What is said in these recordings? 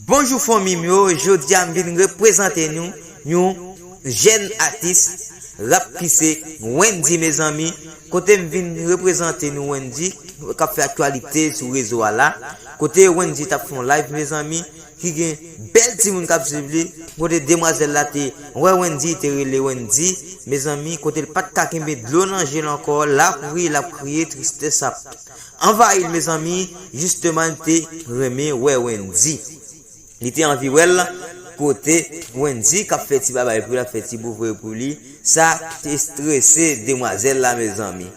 Bonjou fanmi m yo jodi a m vin reprezante nou yon jèn atis rap kise Wendy mezanmi kote m vin reprezante nou Wendy kap fè aktyalite sou rezo a la kote Wendy tap fè yon live mezanmi ki gen bèl timoun kap swiv li kote demwazèl la te wè Wendy te rele Wendy mezanmi kote l pat ka kenbe dlo nan je l ankò lap ri lap kriye tristès ap Anvayil mezanmi Justeman te renmen wè Wendy li te anvi wèl kote Wendy kap fè ti babay pou li lap fè ti bouvre pou li sa t estrese demwazèl la mezanmi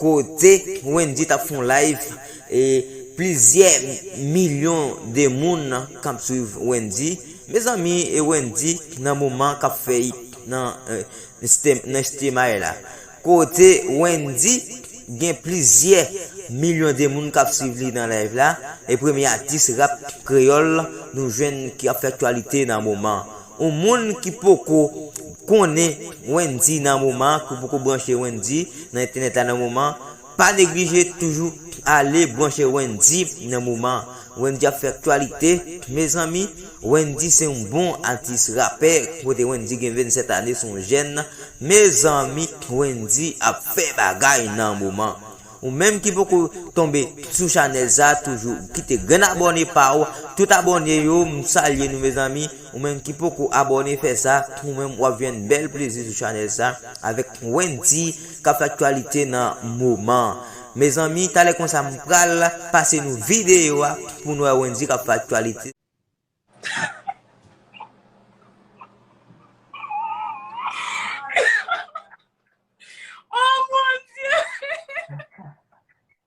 kote Wendy tap fon live e plizyè milyon de moun kap swiv Wendy mezanmi e Wendy nan moman kap fè nan stemay la Kote Wendy gen plizyè milyon de moun kap swiv li nan live la, e premye atis rap kreyòl nou jwenn ki ap fè aktyalite nan moman. Ou moun ki poko konnen Wendy nan moman, ki poko branche Wendy nan entènèt la nan moman, Pa neglije toujou ale branche Wendy nan moman Wendy ap fè aktyalite mezanmi Wendy se yon bon atis rapè kote Wendy gen 27 ane son jèn mezanmi Wendy ap fè bagay nan moman ou menm ki poko tonbe sou chanèl sa toujou kite grenn abòne paw tout abòne yo m salye nou mezanmi. Ou menm ki poko abòne fè sa ou menm wap jwenn bèl plezi sou chanèl sa avèk Wendy kap fè aktyalite nan moman an mezanmi talè konsa m pral pase nou videyo a pou nou wè Wendy kap fè aktyalite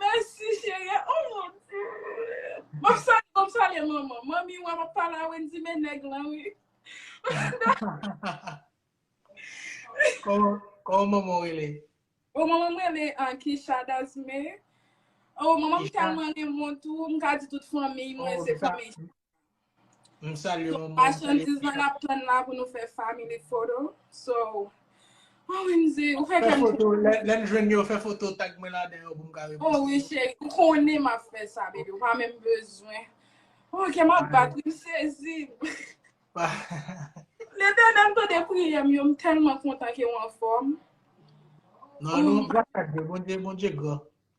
Mèsi cherie oh mon Dieu Map salye map salye manman Manmi wap ap pale a Wendy men nèg lan wi Koman Koman manman w rele? Oh manman m rele an Kisha Dasme Oh manman m tèlman renmen w tou m ka di tout fanmiy mwen se fanmiy Kisha. M salye manman, m salye Machandiz pitit. lan nap tann la pou nou fè family photo. So, OMG, ou fè Fè kèm foto, trip. lè, lèn jwenn yo, fè foto tag mwen ladan yo pou m ka Oh reposte wi yo. cheri, ou konnen map fè sa baby, ou pa menm bezwen. Oh kè map Alright. bat wi, m sezi. Pa. Letènèl m tande priyè m yo, m tèlman kontan ke ou anfòm. Non, nou, gras a Dye, Bondye, Bondye gran.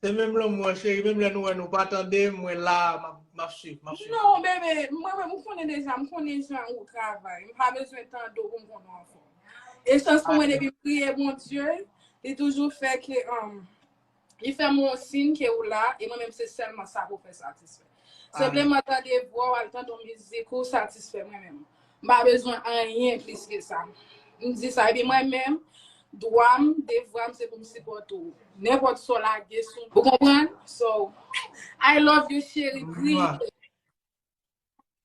Se menm lanmou an cheri, menm lè nou wè nou pa tande, mwen la map swiv, map swiv. Non bebe, mwen menm ou konnen deja, m konnen jan ou travay, m pa bezwen tande w pou m konn ou anfòm. E chans pou mwen depi m priye Bondye, li toujou fè ke li fè m wè yon sin ke ou la e mwen menm se sèlman sa pou fè satisfè. Senpleman tande vwa w al tande yon mizik ou satisfè mwen menm. M pa bezwen anyen plis ke sa. M di sa epi mwen menm dwa m, devwa m se pou m sipòte w. Nenpòt sa w lage sou m. Ou konprann? So, I love you cheri kriye.